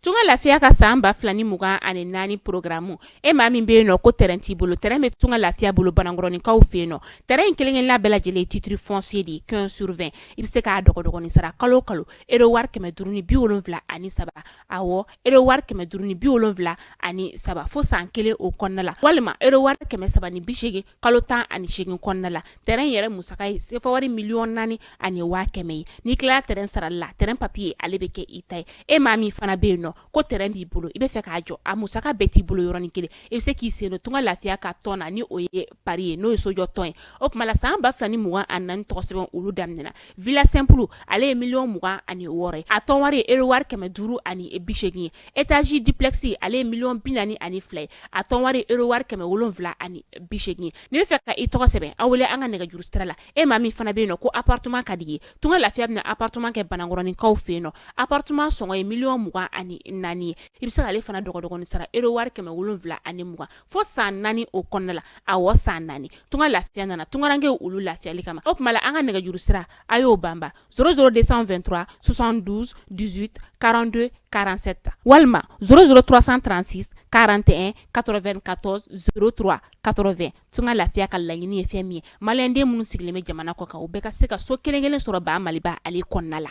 Tunka lafiya ka san ba fila ni mugan ani naani programme e maa min bɛ yen nɔ ko tɛrɛn t'i bolo tɛrɛn bɛ tunka lafiya bolo banankɔrɔninkaw fɛ yen nɔ tɛrɛn kelenkelenna bɛɛ lajɛlen titre foncier de quinze sur vingt i bɛ se k'a dɔgɔdɔgɔnin sara kalo kalo ero wari kɛmɛ duuru ni bi wolonwula ani saba awɔ ero wari kɛmɛ duuru ni bi wolonwula ani saba fo san kelen o kɔnɔna la walima ero wari kɛmɛ saba ni bisegin kalo tan ani segin kɔnɔna la tɛrɛn yɛrɛ musaka ye sefa wari miliyɔn naani ani waa kɛmɛ ye ni tila tɛrɛn sarala tɛrɛn papiye ale bɛ kɛ i ta ye e maa min fana bɛ yen nɔ ko tɛrɛn b'i bolo i bɛ fɛ k'a jɔ a musaka bɛɛ t'i bolo yɔrɔnin kelen i bɛ se k'i sen don tunka lafiya ka tɔn na ni o ye pari ye n'o ye sojɔ tɔn ye o tuma la san ba fila ni mugan ani naani tɔgɔ sɛbɛn olu daminɛɛna villa simple ale ye miliyɔn mugan ani wɔɔrɔ a tɔn wari ero wari kɛmɛ duuru ani bi segin ye étage duplex ale ye miliyɔn bi naani ani fila ye a tɔn wari ero wari kɛmɛ wolonwula ani bi segin n'i bɛ fɛ ka i tɔgɔ sɛbɛn an wele an ka nɛgɛjuru sira la e maa min fana bɛ yen nɔ ko appartement ka di i ye tunka lafiya bɛna appartement kɛ banankɔrɔninkaw fɛ yen nɔ appartement sɔngɔ ye miliyɔn mugan ani naani ye i bɛ se ale fana dɔgɔdɔgɔnin sara ero wari kɛmɛ wolonwula ani mugan fo san naani o kɔnɔna la a wa san naani tun ka lafiya nana tunkarankɛ olu lafiyali kama o tuma an ka nɛgɛjuru sira a y'o banba sro de sanfɛ2tura sonsan duuru karante karansɛ ta walima sroororoturasan transi karante katɔ2 katɔ srotura katɔ2 tun ka lafiya ka laɲiniini ye fɛn min ye maliyɛnden minnu sigilen bɛ jamana kɔ kan u bɛɛ ka se ka so kelenkelen sɔrɔ ba maliba ale kɔnɔna la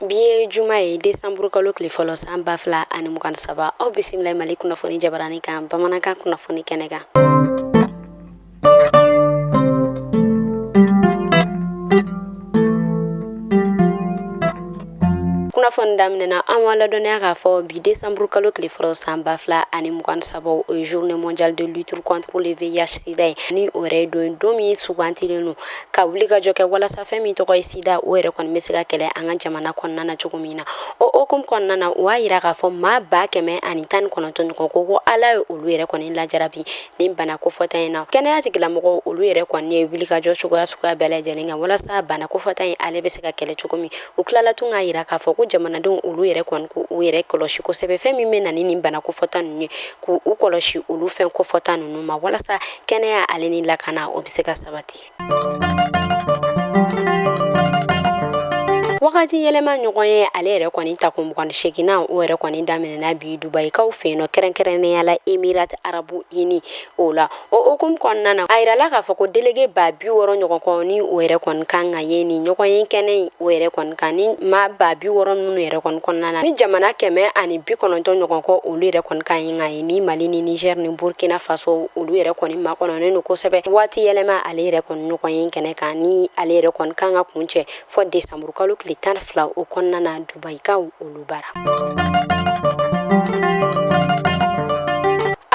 bi ye juma ye desanburu kalo tile fɔlɔ san ba fila ani mugan saba aw bisimila mali kunnafoni jabarani kan bamanankan kunnafoni kɛnɛ kan kunnafoni daminɛna an b'a ladɔnniya k'a fɔ bi desanburu kalo tile fɔlɔ san ba fila ani mugan saba o ye journée mondiale de lutte contre le VIH sida ye ni o yɛrɛ ye don ye don min sugantilen don ka wulikajɔ kɛ walasa fɛn min tɔgɔ ye sida o yɛrɛ kɔni bɛ se ka kɛlɛ an ka jamana kɔnɔna na cogo min na o hokumu kɔnɔna na o y'a yira k'a fɔ maa ba kɛmɛ ani tan ni kɔnɔntɔn ɲɔgɔn ko ko ala ye olu yɛrɛ kɔni lajarabi nin bana kofɔta in na kɛnɛya tigilamɔgɔw olu yɛrɛ kɔni ye wulikajɔ cogoya suguya bɛɛ lajɛlen kan walasa bana kofɔta in ale bɛ se ka kɛlɛ cogo min u tilala tun k'a yira k'a fɔ ko jamanadenw olu yɛrɛ kɔni ko u yɛrɛ kɔlɔsi kosɛbɛ fɛn min bɛ na ni nin bana kofɔta ninnu ye k'u kɔlɔsi olu fɛn kofɔta ninnu ma walasa kɛnɛya ale ni lakana o bɛ se ka sabati wagati yɛlɛma ɲɔgɔn ye ale yɛrɛ kɔni takun mugan seginna o yɛrɛ kɔni daminɛna bi dubayikaw fɛ yen nɔ kɛrɛnkɛrɛnnenya la émirats arabes unis o la o hukumu kɔnɔna na a yirala k'a fɔ ko delege ba bi wɔɔrɔ ɲɔgɔn kɔ ni o yɛrɛ kɔni kan ka ye ni ɲɔgɔn ye kɛnɛ in o yɛrɛ kɔni kan ni maa ba bi wɔɔrɔ minnu yɛrɛ kɔni kɔnɔna na ni jamana kɛmɛ ani bi kɔnɔntɔn ɲɔgɔn kɔ olu yɛrɛ kɔni kan ye ka ye ni mali ni nizɛri ni burukina faso olu yɛrɛ kɔni makɔnɔnen don kosɛbɛ waati yɛlɛma ale yɛrɛ kɔni ɲɔgɔnye kɛnɛ kan ni ale yɛrɛ kɔni kan ka kuncɛ fɔ desanburukalo tile tan fila o kɔnɔna na dubayikaw olu bara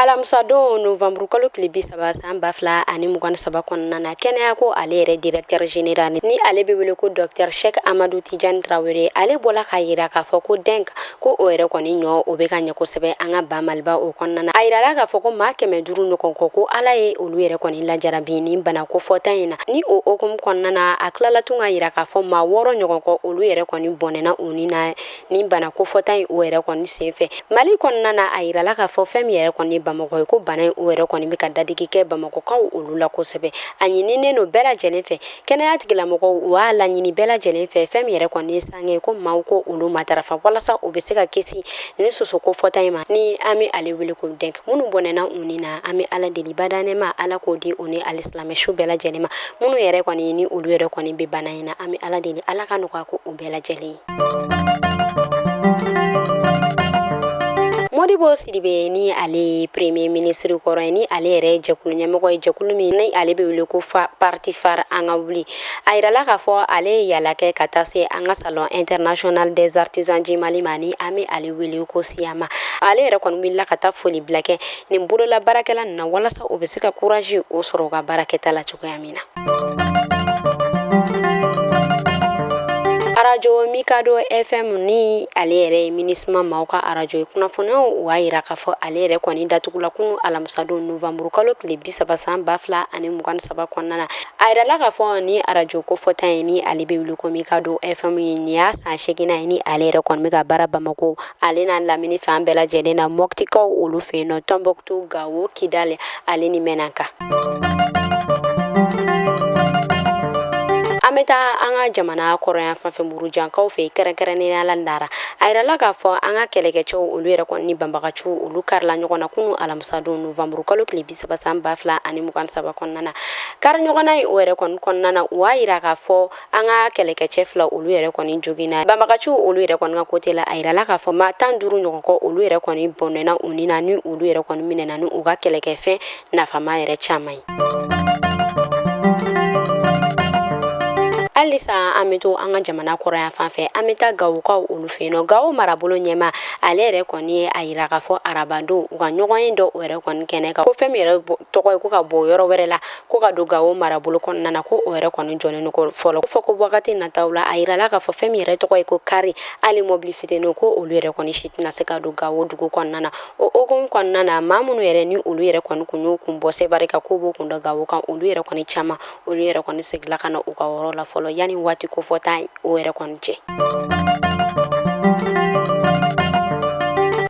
alamusadon novanburukalo tile bi saba san ba fila ani mugan saba kɔnɔna na kɛnɛya ko ale yɛrɛ directeur général ni ale bɛ wele ko docteur Cheick Amadou Tidiane Traoré ale bɔla k'a yira k'a fɔ ko dengue ko o yɛrɛ kɔni ɲɔ o bɛ ka ɲɛ kosɛbɛ an ka ba maliba o kɔnɔna na a yirala k'a fɔ ko maa kɛmɛ duuru ɲɔgɔn kɔ ko ala ye olu yɛrɛ kɔni lajarabi ni bana kofɔta in na ni o hukumu kɔnɔna na a tilala tun k'a yira k'a fɔ maa wɔɔrɔ ɲɔgɔn kɔ olu yɛrɛ kɔni bɔnɛna u ni na ni bana kofɔta in o yɛrɛ kɔni senfɛ mali kɔnɔna na a yirala k'a fɔ fɛn min yɛrɛ kɔni bamakɔ ye ko bana in o yɛrɛ kɔni bɛ ka dadigi kɛ bamakɔkaw olu la kosɛbɛ a ɲininen don bɛɛ lajɛlen fɛ kɛnɛya tigilamɔgɔw u b'a laɲini bɛɛ lajɛlen fɛ fɛn min yɛrɛ kɔni ye sange ko maa k'olu matarafa walasa u bɛ se ka kisi ni soso kofɔta in ma ni an bɛ ale wele ko dengue minnu bɔnɛna u ni na an bɛ ala deli bada nɛɛma ala k'o di u ni alisilamɛ su bɛɛ lajɛlen ma minnu yɛrɛ kɔni ni olu yɛrɛ kɔni bɛ bana in na an bɛ ala deli ala ka nɔgɔya k'u bɛɛ lajɛlen ye modibo sidibe ni ale premier ministre kɔrɔ ye ni ale yɛrɛ jɛkulu ɲɛmɔgɔ ye jɛkulu min ni ale bɛ wele ko fa parti FARE an ka wuli a yirala k'a fɔ ale ye yala kɛ ka taa se an ka salon international des artisans du Mali ma ni an bɛ ale wele ko SIAMA ale yɛrɛ kɔni wulila ka taa foli bila kɛ nin bolola baarakɛla ninnu na walasa u bɛ se ka courage o sɔrɔ u ka baarakɛta la cogoya min na. arajo mikado fm ni ale yɛrɛ ye MINUSMA maaw ka arajo ye kunnafoniyaw u y'a yira k'a fɔ ale yɛrɛ kɔni datugula kunu alamisadon novanburukalo tile bisaba san ba fila ani mugan saba kɔnɔna na A yirala k'a fɔ ni arajo kofɔta in ni ale bɛ wele ko mikado fm ye nin y'a san seeginan ye ni ale yɛrɛ kɔni bɛ ka baara bamakɔ ale n'a lamini fan bɛɛ lajɛlen na motikaw olu fɛ yen nɔ tunbutu gawo kidali ale ni menaka an bɛ taa an ka jamana kɔrɔn yanfan fɛ murujankaw fɛ kɛrɛnkɛrɛnnenya la dara a yirala k'a fɔ an ka kɛlɛkɛcɛw olu yɛrɛ kɔni ni banbagaciw olu karila ɲɔgɔn na kunun alamisadon novanburukalo tile saba san ba fila ani mugan saba kɔnɔna na kari ɲɔgɔnna in o yɛrɛ kɔni kɔnɔna na u y'a yira k'a fɔ an ka kɛlɛkɛcɛ fila olu yɛrɛ kɔni joginna banbagaciw olu yɛrɛ kɔni ka kote la a yirala k'a fɔ maa tan duuru ɲɔgɔn kɔ olu yɛrɛ kɔni bɔnɛna u ni na ni olu yɛrɛ kɔni minɛna ni u ka kɛlɛkɛfɛn nafama yɛrɛ caman ye halisa an bɛ to an ka jamana kɔrɔn yanfan fɛ an bɛ taa gawokaw olu fɛ yen nɔ gawo marabolo ɲɛma ale yɛrɛ kɔni ye a yira k'a fɔ arabadon u ka ɲɔgɔnye dɔ o yɛrɛ kɔni kɛnɛ kan ko fɛn min yɛrɛ tɔgɔ ye ko ka bɔ yɔrɔ wɛrɛ la ko ka don gawo marabolo kɔnɔna na ko o yɛrɛ kɔni jɔlen don fɔlɔ fɔ ko wagati nataw la a yirala k'a fɔ fɛn min yɛrɛ tɔgɔ ye ko kari hali mɔbili fitinin ko olu yɛrɛ kɔni si tɛna se ka don gawo dugu kɔnɔna na o hokumu kɔnɔna na maa minnu yɛrɛ ni olu yɛrɛ kɔni kun y'u kun bɔ sebari kan ko b'u kun da gawo kan olu yɛrɛ kɔni caman olu yɛrɛ kɔni segila ka na u ka yɔrɔ la fɔlɔ yanni waati kofɔta o yɛrɛ kɔni cɛ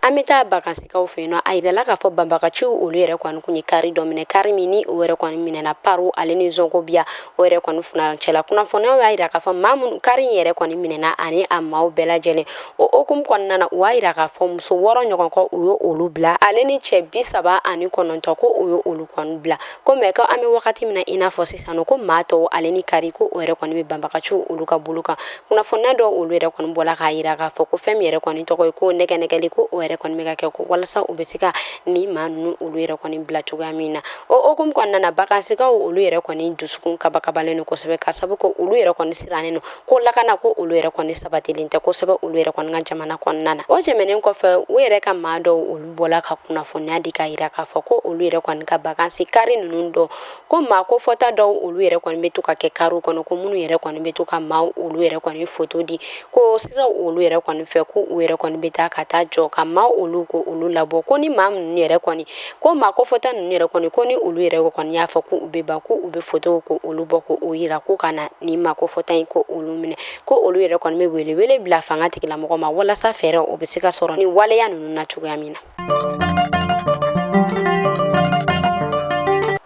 an bɛ taa bakansikaw fɛ yen nɔ a yirala k'a fɔ banbagaciw olu yɛrɛ kɔni kun ye kari dɔ minɛ kari min ni o yɛrɛ kɔni minɛna paru ale ni zɔnkobiya o yɛrɛ kɔni funancɛ la kunnafoniyaw y'a yira k'a fɔ maa minnu kari in yɛrɛ kɔni minɛna ani a maaw bɛɛ lajɛlen o hokumu kɔnɔna na u y'a yira k'a fɔ muso wɔɔrɔ ɲɔgɔn ko u ye olu bila ale ni cɛ bi saba ani kɔnɔntɔ ko u ye olu kɔni bila ko mɛ ko an bɛ wagati min na i n'a fɔ sisan nɔ ko maa tɔw ale ni kari ko o yɛrɛ kɔni bɛ banbagaciw olu ka bolo kan kunnafoniya dɔw olu yɛrɛ kɔni bɔla k'a yira k'a fɔ ko fɛn min yɛrɛ kɔni tɔgɔ ye ko nɛgɛnɛgɛli ko o yɛrɛ kɔni bɛ ka kɛ ko walasa u bɛ se ka ni maa ninnu olu yɛrɛ kɔni bila cogoya min na o hokumu kɔnɔna na bakansikaw olu yɛrɛ kɔni dusukun kabakabalen don kosɛbɛ ka sabu ko olu yɛrɛ kɔni sirannen don ko lakana ko olu yɛrɛ kɔni sabatilen tɛ kosɛbɛ olu yɛrɛ kɔni ka jamana kɔnɔna na o tɛmɛnen kɔfɛ u yɛrɛ ka maa dɔw olu bɔla ka kunnafoniya di k'a yira k'a fɔ ko olu yɛrɛ kɔni ka bakansi kari ninnu dɔn ko maa ko fɔta dɔw olu yɛrɛ kɔni bɛ to ka kɛ kariw kɔnɔ ko minnu yɛrɛ kɔni bɛ to ka maa olu yɛrɛ kɔni foto di ko sira olu yɛrɛ kɔni fɛ ko u yɛrɛ kɔni bɛ taa ka taa jɔ ka maa olu ko olu labɔ ko ni maa minnu yɛrɛ kɔni ko maa ko fɔta ninnu yɛrɛ kɔni ko ni olu yɛrɛ kɔni y'a fɔ ko u bɛ ban ko u bɛ fotow ko olu bɔ ko o yira ko ka na ni maa ko fɔta in ko olu minɛ ko olu yɛrɛ kɔni bɛ welewele bila fanga tigilamɔgɔ ma walasa fɛɛrɛ o bɛ se ka sɔrɔ ni waleya ninnu na cogoya min na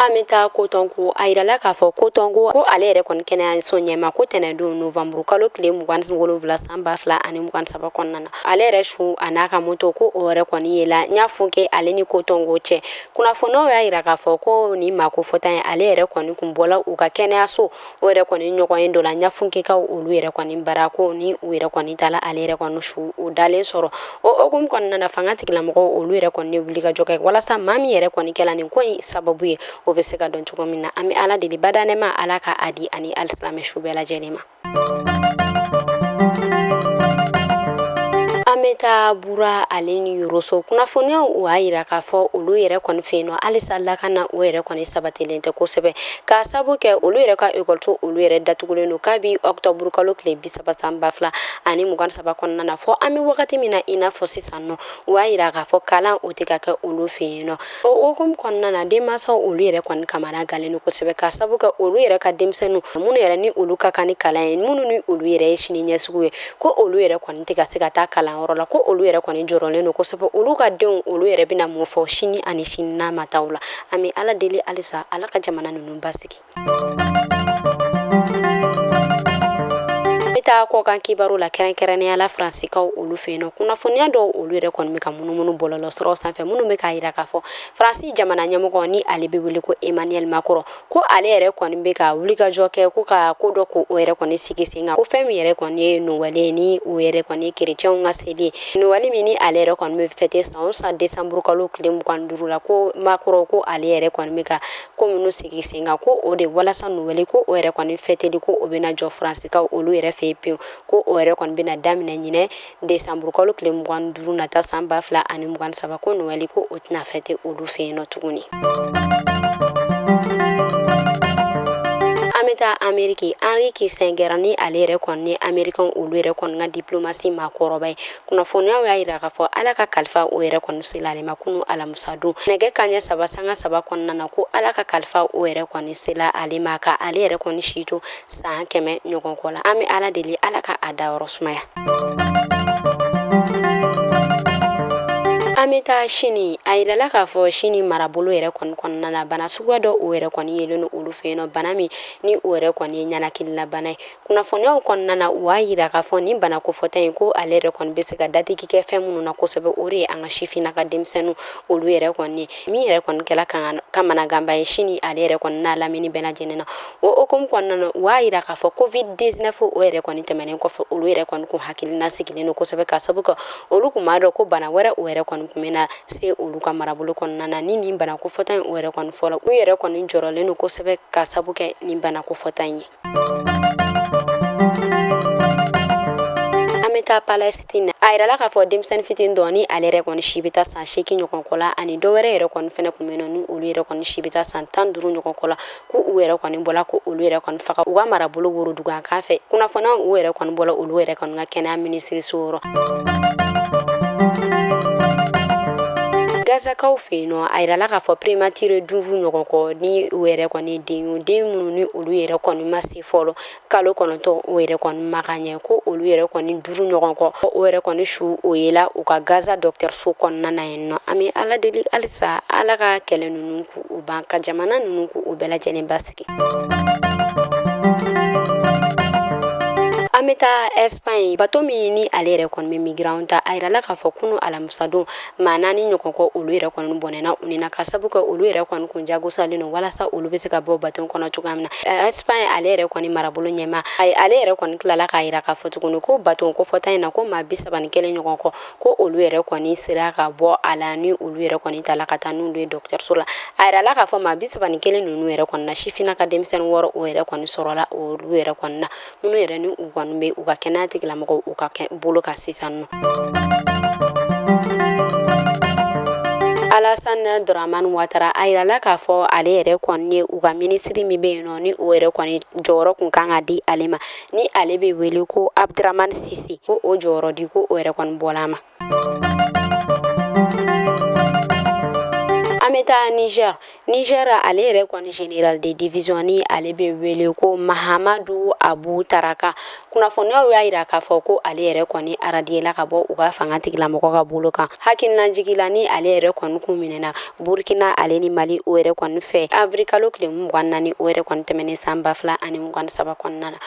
an bɛ taa kotɔnko a yirala k'a fɔ kotɔnko ko ale yɛrɛ kɔni kɛnɛyaso ɲɛma ko tɛnɛndon novanburu kalo tile mugan wolonwula san ba fila ani mugan saba kɔnɔna na ale yɛrɛ su a n'a ka moto ko o yɛrɛ kɔni yela ɲafunke ale ni kotɔnko cɛ kunnafoniw y'a yira k'a fɔ ko ni maa ko fɔta in ale yɛrɛ kɔni kun bɔla u ka kɛnɛyaso o yɛrɛ kɔni ɲɔgɔnye dɔ la ɲafunkekaw olu yɛrɛ kɔni bara ko ni u yɛrɛ kɔni taala ale yɛrɛ kɔni su o dalen sɔrɔ o hokumu kɔnɔna na fanga tigilamɔgɔw olu yɛrɛ kɔni wulikajɔ kɛ walasa maa min yɛrɛ kɔni kɛla nin ko in sababu ye o bɛ se ka dɔn cogo min na an bɛ ala deli badaa nɛɛma ala ka a di a ni alisilamɛ su bɛɛ lajɛlen ma taa bura ale ni yoroso kunnafoniyaw o y'a yira k'a fɔ olu yɛrɛ kɔni fɛ yen nɔ halisa lakana o yɛrɛ kɔni sabatilen tɛ kosɛbɛ k'a sabu kɛ olu yɛrɛ ka ekɔliso olu yɛrɛ datugulen don kabi ɔkutɔburu kalo tile bi saba san ba fila ani mugan saba kɔnɔna na fɔ an bɛ wagati min na i n'a fɔ sisan nɔ o y'a yira k'a fɔ kalan o tɛ ka kɛ olu fɛ yen nɔ O hukumu kɔnɔna na denmansaw olu yɛrɛ kɔni kamana ganlen don kosɛbɛ ka sabu kɛ olu yɛrɛ ka denmisɛnninw minnu yɛrɛ ni olu ka kan ni kalan ye minnu ni olu yɛrɛ ye sini ɲɛsigiw ye ko olu yɛrɛ kɔni tɛ ka se ka taa kalanyɔrɔ la ko olu yɛrɛ kɔni jɔrɔlen don kosɛbɛ olu ka denw olu yɛrɛ bɛna mun fɔ sini ani sini n'a ma taa la an bɛ ala deli halisa ala ka jamana ninnu basigi taa kɔkan kibaru la kɛrɛnkɛrɛnnenya la faransikaw olu fɛ yen nɔ kunnafoniya dɔw olu yɛrɛ kɔni bɛ ka munumunu bɔlɔlɔsiraw sanfɛ minnu bɛ k'a yira k'a fɔ faransi jamana ɲɛmɔgɔ ni ale bɛ wele ko emmanuel macron ko ale yɛrɛ kɔni bɛ ka wulikajɔ kɛ ko ka ko dɔ ko o yɛrɛ kɔni sigi sen kan ko fɛn min yɛrɛ kɔni ye nowɛli ye ni o yɛrɛ kɔni ye kerecɛnw ka seli ye nowɛli min ni ale yɛrɛ kɔni bɛ fɛte san o san desanburukalo tile mugan duuru la ko macron ko ale yɛrɛ kɔni bɛ ka ko minnu sigi sen kan ko o de walasa nowɛli ko o yɛrɛ kɔni fɛteli ko o bɛna jɔ faransikaw olu yɛrɛ fɛ pewu ko o yɛrɛ kɔni bɛna daminɛ ɲinɛ desanburukalo tile mugan duuru nata san ba fila ani mugan saba ko nowɛli ko o tɛna fɛte olu fɛ yen nɔ tuguni an bɛ taa ameriki henri kissinger ni ale yɛrɛ kɔni ni amerikɛnw olu yɛrɛ kɔni ka diplomasi maakɔrɔba ye kunnafoniyaw y'a yira k'a fɔ ala ka kalifa o yɛrɛ kɔni sela ale ma kunun alamisa don nɛgɛ kanɲɛ saba sanga saba kɔnɔna na ko ala ka kalifa o yɛrɛ kɔni sela ale ma ka ale yɛrɛ kɔni si to san kɛmɛ ɲɔgɔn kɔ la an bɛ ala deli ala ka a dayɔrɔ sumaya an bɛ taa sini a yirala k'a fɔ sini marabolo yɛrɛ kɔni kɔnɔna na bana suguya dɔ o yɛrɛ kɔni yelen don olu fɛ yen nɔ bana min ni o yɛrɛ kɔni ye ninakililabana ye kunnafoniw kɔnɔna na u y'a yira k'a fɔ nin bana kofɔta in ko ale yɛrɛ kɔni bɛ se ka dadigi kɛ fɛn minnu na kosɛbɛ o de ye an ka sifin na ka denmisɛnninw olu yɛrɛ kɔni ye min yɛrɛ kɔni kɛla kamanaganba ye sini ale yɛrɛ kɔni n'a lamini bɛɛ lajɛlen na o hukumu kɔnɔna na u y'a yira k'a fɔ covid 19 o yɛrɛ kɔni tɛmɛnen kɔfɛ olu yɛrɛ kɔni kun hakilina sigilen don kosɛbɛ ka sabu kɛ olu kun b'a dɔn ko bana wɛrɛ o yɛrɛ kɔni kun bɛna se olu ka marabolo kɔnɔna na ni nin bana kofɔta in o yɛrɛ kɔni fɔlɔ u yɛrɛ kɔni jɔrɔlen don kosɛbɛ ka sabu kɛ nin bana kofɔta in ye taa palɛsitini a yirala k'a fɔ denmisɛnnin fitinin dɔ ni ale yɛrɛ kɔni si bɛ taa san seegin ɲɔgɔn kɔ la ani dɔ wɛrɛ yɛrɛ kɔni fɛnɛ kun bɛ yen nɔ ni olu yɛrɛ kɔni si bɛ taa san tan duuru ɲɔgɔn kɔ la ko u yɛrɛ kɔni bɔla ko olu yɛrɛ kɔni faga u ka marabolo woroduguyan kan fɛ kunnafoniyaw yɛrɛ kɔni bɔla olu yɛrɛ kɔni ka kɛnɛya minisiriso yɔrɔ gazakaw fɛ yen nɔ a yirala k'a fɔ prématuré duuru ɲɔgɔn kɔ ni u yɛrɛ kɔni den den minnu ni olu yɛrɛ kɔni ma se fɔlɔ kalo kɔnɔntɔn o yɛrɛ kɔni ma ka ɲɛ ko olu yɛrɛ kɔni duuru ɲɔgɔn kɔ o yɛrɛ kɔni su o yela u ka gaza dɔgɔtɔrɔso kɔnɔna na yen nɔ an bɛ ala deli halisa ala ka kɛlɛ ninnu k'u ban ka jamana ninnu k'u bɛɛ lajɛlen basigi an bɛ taa espagne bato min ni ale yɛrɛ kɔni bɛ migrants ta a yirala k'a fɔ kunun alamisadon maa naani ɲɔgɔn kɔ olu yɛrɛ kɔni bɔnɛna u ni na ka sabu kɛ olu yɛrɛ kɔni kun jagosalen don walasa olu bɛ se ka bɔ baton kɔnɔ cogoya min na Espagne ale yɛrɛ kɔni marabolo ɲɛmaa ale yɛrɛ kɔni tilala k'a yira k'a fɔ tuguni ko baton kofɔta in na ko maa bi saba ni kelen ɲɔgɔn kɔ ko olu yɛrɛ kɔni sera ka bɔ a la ni olu yɛrɛ kɔni tala ka taa n'olu ye dɔgɔtɔrɔso la a yirala k'a fɔ maa bi saba ni kelen ninnu yɛrɛ kɔni na sifinnaka denmisɛnnin wɔɔrɔ o yɛrɛ kɔni sɔrɔla olu yɛrɛ kɔni na minnu yɛrɛ ni u kɔni bɛ u ka kɛnɛya tigilamɔgɔw u ka bolo kan sisan nɔ Alassane Dramane Ouattara a yirala k'a fɔ ale yɛrɛ kɔni ye u ka minisiri min bɛ yen nɔ ni o yɛrɛ kɔni jɔyɔrɔ kun kan ka di ale ma ni ale bɛ wele ko Abdramane Cissé ko o jɔyɔrɔ di ko o yɛrɛ kɔni bɔla a ma an bɛ taa Niger Niger ale yɛrɛ kɔni général de division ni ale bɛ wele ko Mahamadou Abou Tarka kunnafoniyaw y'a yira k'a fɔ ko ale yɛrɛ kɔni aradiyela ka bɔ u ka fanga tigilamɔgɔ ka bolo kan hakilina jigila ni ale yɛrɛ kɔni kun minɛna Burkina ale ni Mali o yɛrɛ kɔni fɛ avril kalo tile mugan naani o yɛrɛ kɔni tɛmɛnen san ba fila ani mugan ni saba kɔnɔna na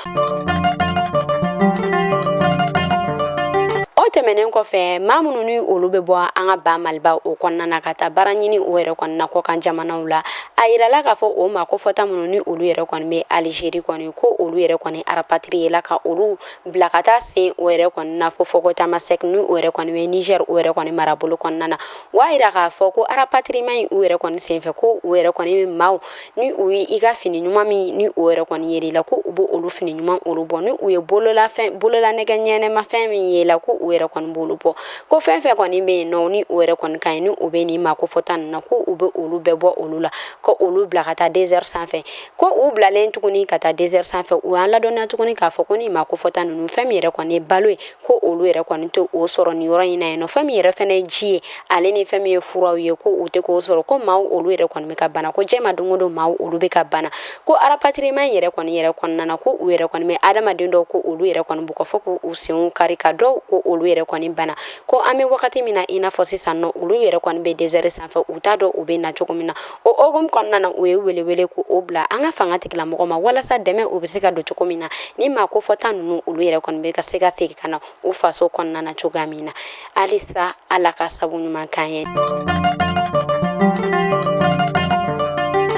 o tɛmɛnen kɔfɛ maa minnu ni olu bɛ bɔ an ka ba Maliba o kɔnɔna na ka taa baara ɲini o yɛrɛ kɔni na kɔkan jamanaw la a yirala k'a fɔ o maa kofɔta minnu ni olu yɛrɛ kɔni bɛ Algérie kɔni ko olu yɛrɛ kɔni arapatiriyela ka olu bila ka taa sen o yɛrɛ kɔni na fo fɔ ko Tamasɛk ni o yɛrɛ kɔni bɛ Niger o yɛrɛ kɔni marabolo kɔnɔna na u y'a yira k'a fɔ ko arapatirima in u yɛrɛ kɔni senfɛ ko u yɛrɛ kɔni bɛ maaw ni u ye i ka fini ɲuman min ni o yɛrɛ kɔni ye i la ko u b'olu fini ɲuman olu bɔ ni u ye bololanɛgɛ ɲɛnɛmafɛn min ye la ko u yɛrɛ kɔni b'olu bɔ ko fɛn fɛn kɔni bɛ yen nɔ ni o yɛrɛ kɔni ka ɲi ni o bɛ nin maa kofɔta ninnu na ko u bɛ olu bɛɛ bɔ olu la ko olu bila ka taa dɛsɛri sanfɛ ko u bilalen tuguni ka taa dɛsɛri sanfɛ u y'an ladɔnniya tuguni k'a fɔ ko nin maa kofɔta ninnu fɛn min yɛrɛ kɔni ye balo ye ko olu yɛrɛ kɔni tɛ o sɔrɔ nin yɔrɔ in na yen nɔ fɛn min yɛrɛ fɛnɛ ye ji ye ale ni fɛn min ye furaw ye ko u tɛ k'o sɔrɔ ko maaw olu yɛrɛ kɔni bɛ ka bana ko jɛma don o don maaw olu bɛ ka bana ko arapatirima in yɛrɛ kɔni yɛrɛ kɔnɔna na ko u yɛrɛ kɔni bɛ adamaden dɔw ko olu yɛrɛ kɔni bugɔ fo k'u senw kari ka dɔw ko olu yɛrɛ kɔni bana ko an bɛ wagati min na i n'a fɔ sisan nɔ olu yɛrɛ kɔni bɛ dɛsɛri sanfɛ u t'a dɔn u bɛ na cogo min na o hukumu kɔnɔna na u ye welewele ko o bila an ka fanga tigilamɔgɔ ma walasa dɛmɛ o bɛ se ka don cogo min na ni maa kofɔta ninnu olu yɛrɛ kɔni bɛ ka se ka segin ka na u faso kɔnɔna na cogoya min na halisa Ala ka sabu ɲuman k'an ye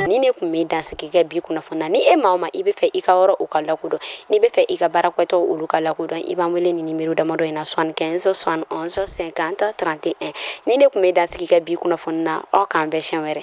ni ne kun bɛ dansigi kɛ bi kunnafoni na ni e maa o maa i bɛ fɛ i ka yɔrɔ o ka lakodɔn N'i bɛ fɛ i ka baarakɛtɔw olu ka lakodɔn i b'an wele ni numéro damadɔ in na soixante quinze soixante onze cinquante trente et un ni ne kun bɛ dansigi kɛ bi kunnafoni na aw k'an bɛn siɲɛ wɛrɛ